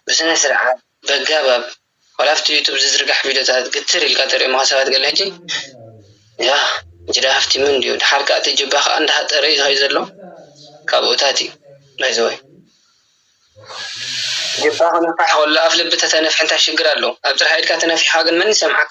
ብስነ ስርዓት በጋባብ ዋላ ኣብቲ ዩቱብ ዝዝርጋሕ ቪድዮታት ግትር ኢልካ ተርእዮምኻ ሰባት ገለ ሕጂ ያህ ጅዳ ሃፍቲሙ እንድዩ ድሓር ከኣ እቲ ጅባ ከኣ እንዳሃጠረ እዩ ዝኸይድ ዘሎ ካብኡታት እዩ ባይዘወይ ጅባ ክነፍሕ ከሎ ኣፍ ልቢ ተተነፍሒ እንታይ ሽግር ኣለዎ ኣብ ጥርሓ ኢድካ ተነፊሕኻ ግን መን ይሰምዓካ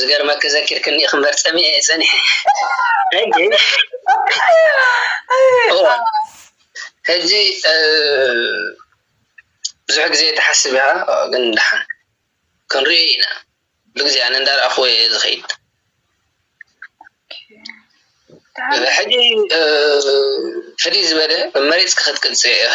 ዝገርመኪ ዘኪርክኒ ኢኺ እምበር ጸሚኤ እየ ጸኒሐ ሕጂ ብዙሕ ግዜ ተሓስብ ኢኻ ግን ደሓን ክንሪኦ ኢና ብግዜ ኣነ እንዳረኣኹዎ እየ ዝኸይድ ሕጂ ፍልይ ዝበለ መሬት ክትቅጽ ኢኺ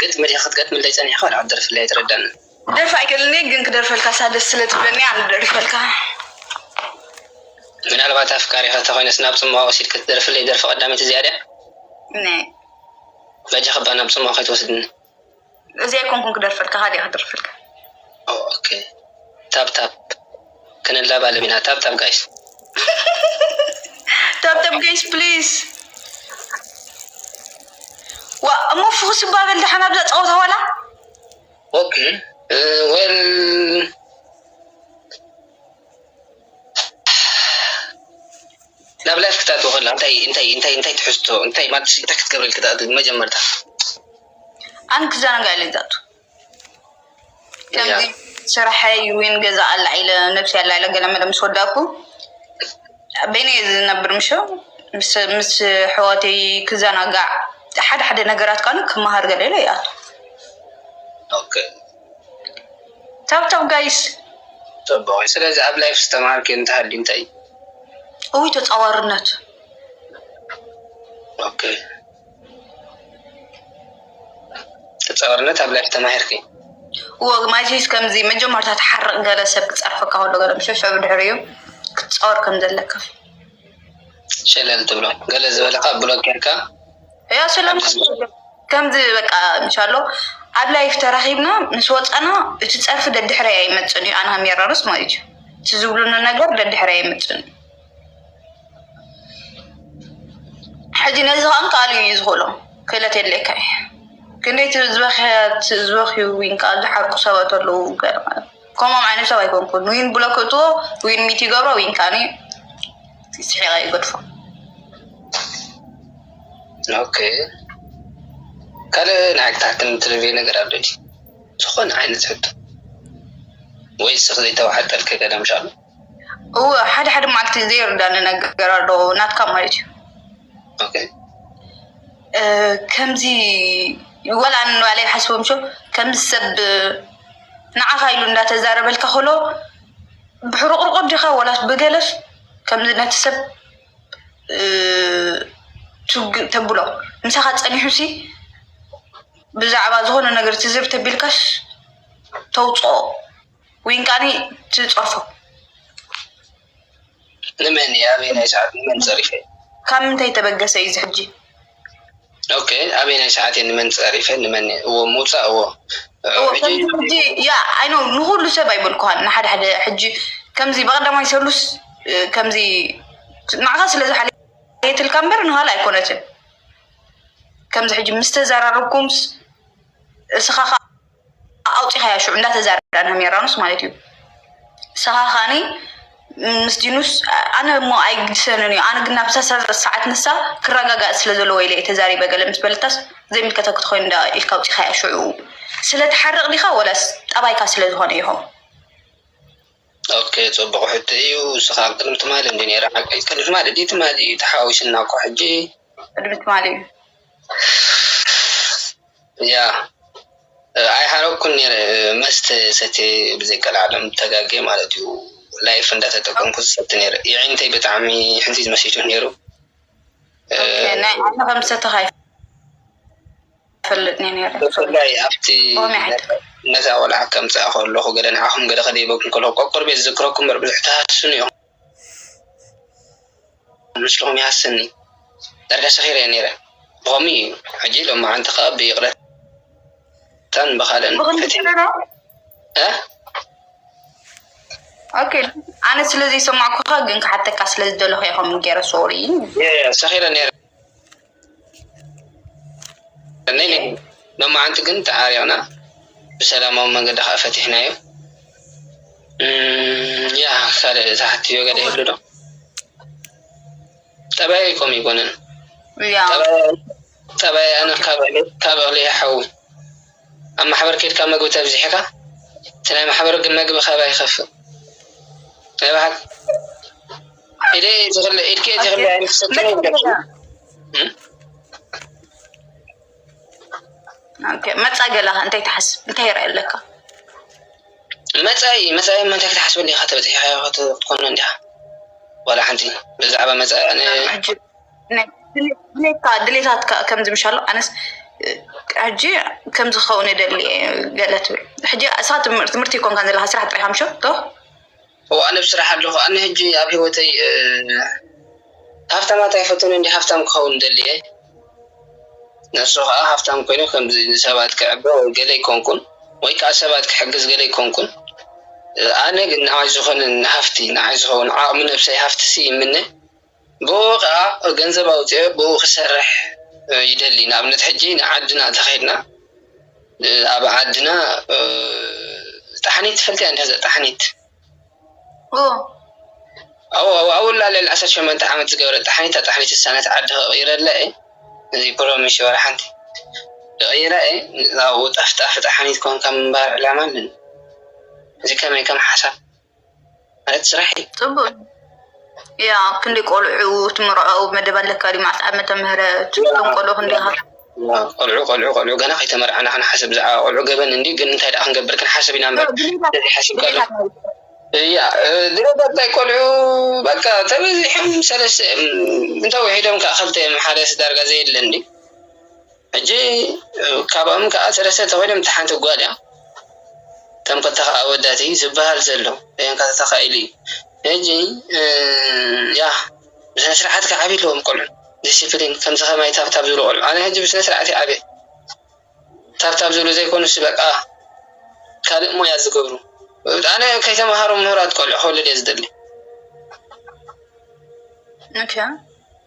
ግጥሚ ድካ ክትገጥመለይ ጸኒሕካ ወላ ሓንቲ ደርፊ ኣይተረድኣንን። ክደርፍ ኣይክእልን እየ ግን ክደርፈልካ እሳ ደስ ስለ ትብለኒ ኣነ ክደርፈልካ። ምናልባት ኣፍቃሪካ እንተኮይነስ ናብ ጽምዋ ወሲድካ ትደርፍለይ ደርፊ ቀዳመይቲ እዚኣ ድያ? በጃካ እባ ናብ ጽምዋ ከይትወስድኒ። እዚ ኣይኮንኩን ክደርፈልካ ካልእ እየ ክደርፈልካ ኦኬ ታብ ታብ ክንላባለም ኢና ታብ ታብ ጋይስ ታብ ታብ ጋይስ ፕሊዝ ዋ እሞ ፍኹስ እባ በል ደሓን ኣብዛ ፀወታ ዋላ ኦኬ ወል ናብ ላይፍ ክታኣትው ከላ እንታይ እንታይ እንታይ እንታይ ትሕዝቶ እንታይ ማለት እንታይ ክትገብረል ክታኣት መጀመርታ ኣን ክዘናጋዕለ ይዛቱ ከምዚ ስራሕ ይዊን ገዛ ኣላ ኢለ ነብሲ ኣላ ኢለ ገለ መለ ምስ ወዳኩ በይነ ዝነብር ምሸ ምስ ሕዋተይ ክዘናጋዕ ሓደ ሓደ ነገራት ካኑ ክመሃር ገለ ኢለ ይኣቱ ታብታብ ጋይስ። ጽቡቅ እዩ ስለዚ ኣብ ላይፍ ዝተማሃርክዮ እንተሃልዩ እንታይ እዩ? እውይ ተጻዋርነት። ኦኬ ተጻዋርነት ኣብ ላይፍ ተማሂርኪ። እዎ ማይሲስ ከምዚ መጀመርታ ትሓርቅ ገለ ሰብ ክጸርፈካ ከሎ ገለ ምስ ሸሸ ብድሕሪኡ ክትጻወር ከም ዘለካ። ሸለል ትብሎ ገለ ዝበለካ ብሎክ ጌርካ። እያ ስለም ከምዚ በቃ እንሻሎ ኣብ ላይፍ ተራኺብና ምስ ወፃና እቲ ፀርፊ ደድሕረይ ኣይመፅን እዩ ኣንሃም የራርስ ማለት እዩ እቲ ዝብሉኒ ነገር ደድሕረይ ኣይመፅን እዩ ሕዚ ነዚ ከ ከኣል እዩ ዝኽእሎ ክእለት የድልየካ እዩ ክንደይ ዝበኽዩ ን ከኣ ዝሓርቁ ሰባት ኣለዉ ገ ከምኦም ዓይነት ሰብ ኣይኮንኩን ዊን ብሎ ክእትዎ ዊን ሚት ይገብሮ ዊን ካኒ ስሒቀ ይገድፎ ኦኬ ካልእ ናይ ታሕትን ትልቤ ነገር ኣሎ ዝኾነ ዓይነት ሕቶ ወይ ስኽ ዘይተዋሓጠልከ ገለ ምሻሉ እወ ሓደ ሓደ መዓልቲ ዘይርዳኒ ነገር ኣሎ ናትካ ማለት እዩ ከምዚ ወላ ንባዕለይ ይሓስቦ ምሾ ከምዚ ሰብ ንዓኻ ኢሉ እንዳተዛረበልካ ከሎ ብሕሩቁርቁ ዲኻ ወላስ ብገለስ ከምዚ ነቲ ሰብ ቱግ ተብሎ ምሳኻ ፀኒሑ ሲ ብዛዕባ ዝኾነ ነገር ትዝር ተቢልካስ ተውፅኦ ዊንቃኒ ትጸርፎ ንመን እየ ኣበየናይ ሰዓት ንመን ጸሪፈ ካብ ምንታይ ተበገሰ እዩ ዝሕጂ ኦኬ ኣበየናይ ሰዓት እየ ንመን ጸሪፈ ንመን እዎ ምውፃእ እዎ ሕጂ ያ ኣይኖ ንኩሉ ሰብ ኣይበልኩሃን ንሓደ ሓደ ሕጂ ከምዚ በቀዳማይ ሰሉስ ከምዚ ንዓኻ ስለ ዝሓለየትልካ እምበር ንኋላ ኣይኮነትን ከምዚ ሕጂ ምስ ተዘራረብኩምስ እስኻ ኣውፂካያ ሽዑ እንዳተዛረብና ንሜራኑስ ማለት እዩ ንስካ ካኒ ምስ ዲኑስ ኣነ እሞ ኣይግድሰንን እዩ ኣነ ግን ናብ ሰዓት ንሳ ክረጋጋእ ስለ ዘለዎ ኢለ ተዛሪበ ገለ ምስ በለታስ ዘይምልከተኪ ትኮይኑ እንዳ ኢልካ ኣውፂካያ ሽዑ ስለትሓርቅ ዲካ ወላስ ጠባይካ ስለዝኮነ ይኮን ኦኬ ጽቡቅ ሕቶ ኢዩ ንስካ ኣብ ቅድሚ ትማሊ እንዲዩ ነይሩ ሓቀይ ቅድሚ ትማሊ ድዩ ትማሊ ኢዩ ተሓዋዊስና እኮ ሕጂ ቅድሚ ትማሊ ኢዩ ያ ኣይሃረኩን ነይረ መስተ ሰትየ ብዘይ ቀልዓለም ተጋግየ ማለት እዩ ላይፍ እንዳተጠቀምኩ ዝሰቲ ነይረ የዒንተይ ብጣዕሚ ሕንዚዝ መሲቱ ነይሩ ናይ ዓይኒ ከም ዝሰተኻ ብፍላይ ኣብቲ ነታ ቆልዓ ከምጽኣ ከለኹ ገለ ንዓኹም ገለ ክድይበኩም ከለኹ ቆቅርበይ ዝዝክረኩም እምበር ብዙሕ ትሃስሱኒ ኢኹም ምስልኹም ይሃስሰኒ ዳርጋ ሰኺረ እየ ነይረ ብኸምኡ እዩ ሕጂ ሎማዓንቲ ከኣ ብይቕረታን ብኻልእን ፈቲነ ኦኬ ኣነ ስለ ዘይሰማዕኩኻ ግን ክሓተካ ስለ ዝደለኹ ኢየ ከምኡ ገይረ ሶሪ ሰኺረ ነይረ ሎማዓንቲ ግን ተዓሪቅና ብሰላማዊ መንገዲ ካኣ ፈቲሕናዮ ያህ ካልእ ዝሓትትዮ ገለ ይህሉ ዶ ጠባየይ ኮም ኣይኮነን ጠባየይ ኣነ ካብ እክሊ ይሓዊ ኣብ ማሕበር ከድካ መግቢ ተብዚሕካ እቲ ናይ ማሕበር መግቢ ካባይ ይከፍእ። መፃኢ ገለካ እንታይ ትሓስብ እንታይ ይረኣይ ኣለካ መፃኢ መፃኢ እንታይ ክትሓስብ እንዲካ ተበፂሕካዮ ክትኮኖ እንዲካ ዋላ ሓንቲ ብዛዕባ መፃኢ ድሌትካ ድሌታትካ ከምዚ ምሻሎ ኣነስ ሕጂ ከምዚ ክኸውን ይደሊ ገለ ትብል ሕጂ እሳ ትምህርቲ ኮንካ ዘለካ ስራሕ ጥራይ ምሾ እወ ኣነ ብ ስራሕ ኣለኩ ኣነ ሕጂ ኣብ ሂወተይ ሃፍታማት ኣይፈቱን እንድየ ሃፍታም ክከውን እደሊ እየ ነሱ ከኣ ሃፍታም ኮይኑ ከምዚ ንሰባት ከዕበ ወይ ገለ ኣይኮንኩን ወይ ከኣ ሰባት ክሕግዝ ገለ ኣይኮንኩን ኣነ ግን ንዓይ ዝኮነ ሃፍቲ ንዓይ ዝከውን ዓቅሚ ነብሰይ ሃፍቲሲ ይምነ ብእኡ ከኣ ገንዘብ ኣውጺኤ ብእኡ ክሰርሕ ይደሊ ንኣብነት ሕጂ ንዓድና እንተ ኬድና ኣብ ዓድና ጣሕኒት ትፈልጥያ እንድሕር ጣሕኒት ኣዎ ኣብኡ ኣላ ልዕሊ ዓሰርተ ሸሞንተ ዓመት ዝገበረት ጣሕኒት እታ ጣሕኒት ንሳ ነቲ ዓዲ ክቕይረላ እየ እዚ ፕሮሚስ ወላ ሓንቲ ክቕይራ እየ ኣብኡ ጠፍጣፊ ጣሕኒት ኮንካ ምንባር ዕላማ ኣለኒ እዚ ከመይ ከም ሓሳብ ክንደይ ቆልዑ ትምርዖ መደብ ኣለካ ድዩ መዓስ ዓመተ ምህረት እቶም ቆልዑ ክንደይ ዓመት ቆልዑ ቆልዑ ቆልዑ ገና ከይተመርዐና ክንሓስብ ብዛዕባ ቆልዑ ገበን እንድዩ ግን እንታይ ደኣ ክንገብር ክንሓስብ ኢና እምበር ሓሲብካ ዶ እያ ድሮዳታይ ቆልዑ በቃ ተበዚሖም ሰለስተ እዮም እንተውሒዶም ከዓ ክልተ እዮም ሓደስ ዳርጋ ዘየለ እንድዩ ሕጂ ካባኦም ከኣ ሰለስተ ተኮይኖም እታ ሓንቲ ጋል እያ ከም ክልተካ ኣወዳትይ ዝብሃል ዘሎ ደያንካ ተተካኢሉ እዩ ሕጂ ያህ ብስነ ስርዓት ክዓብዩ ኣለዎም ቆልዑ ዲሲፕሊን ከምዚ ከማይ ታብታብ ዝብሉ ቆልዑ ኣነ ሕጂ ብስነ ስርዓት እየ ዓብየ ታብታብ ዝብሉ ዘይኮኑስ በቃ ካልእ ሞያ ዝገብሩ ኣነ ከይተማሃሩ ምሁራት ቆልዑ ክወልድ እየ ዝደሊ።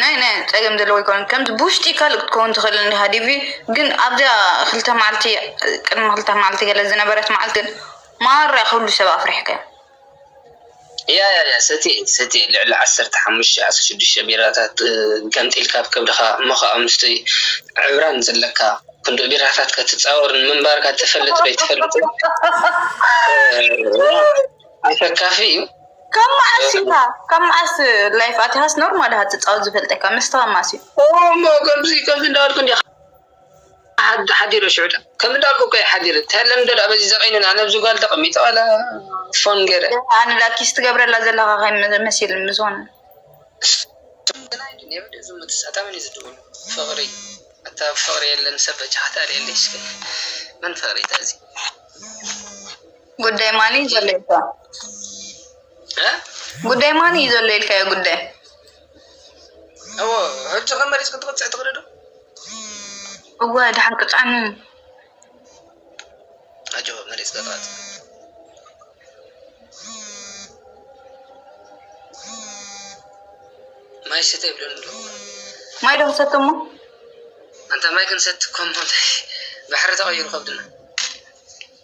ናይ ናይ ጸገም ዘለዎ ኣይኮነን ከምቲ ብውሽጢ ካልእ ክትከውን ትኽእል እንዲኻ ዲቪ ግን ኣብዛ ክልተ መዓልቲ ቅድሚ ክልተ መዓልቲ ገለ ዝነበረት መዓልቲ ግን ማራ ኩሉ ሰብ ኣፍሪሕካዮ እያ እያ እያ ሰቲ ሰቲ ልዕሊ ዓሰርተ ሓሙሽተ ዓሰርተ ሽዱሽተ ቢራታት ገምጢልካ ኣብ ከብድኻ እሞ ከዓ ምስቲ ዕብራን ዘለካ ክንዲ ቢራታት ከትፃወር ምንባርካ ትፈልጥ ዶ ኣይትፈልጥን ኣሰካፊ እዩ። ካብ መዓስ ኢኻ ካብ መዓስ ላይፍ ኣቲኻስ ኖርማል ኢኻ ትጻወት ዝፈልጠካ መስተ ካብ መዓስ እዩ ኦሞ ከምዚ ከምዚ እንዳበልኩ እንዲ ሓዲረ ሽዑ ዳ ከም እንዳልኩ እኮ ሓዲረ ተለምዶ ዳ በዚ ዘቀይንን ኣነ ኣብዚ ጓል ተቀሚጠ ዋላ ፎን ገረ ኣነ ዳ ኪስ ትገብረላ ዘለኻ ከይ መሲል ምዝኾነ ፍቅሪ ኣታ ፍቅሪ የለን ሰብ በጃ ከተርእየለይ እስከ መን ፍቅሪ ተዚ ጉዳይ ማን እዩ ዘሎ ኢልካ ጉዳይ ማን እዩ ዘሎ ኢልካዮ ጉዳይ እዎ ሕጂ ከመሪፅ ክትቅፅዕ ትኽእሊ ዶ እወ ድሓን ቅፅዓኒ ኣጆ መሪፅ ቅፅዓት ማይ ስተ ይብለኒ ኣሎ ማይ ዶ ክሰቲ እሞ ኣንታ ማይ ክንሰቲ ኮሞ ባሕሪ ተቐይሩ ከብድና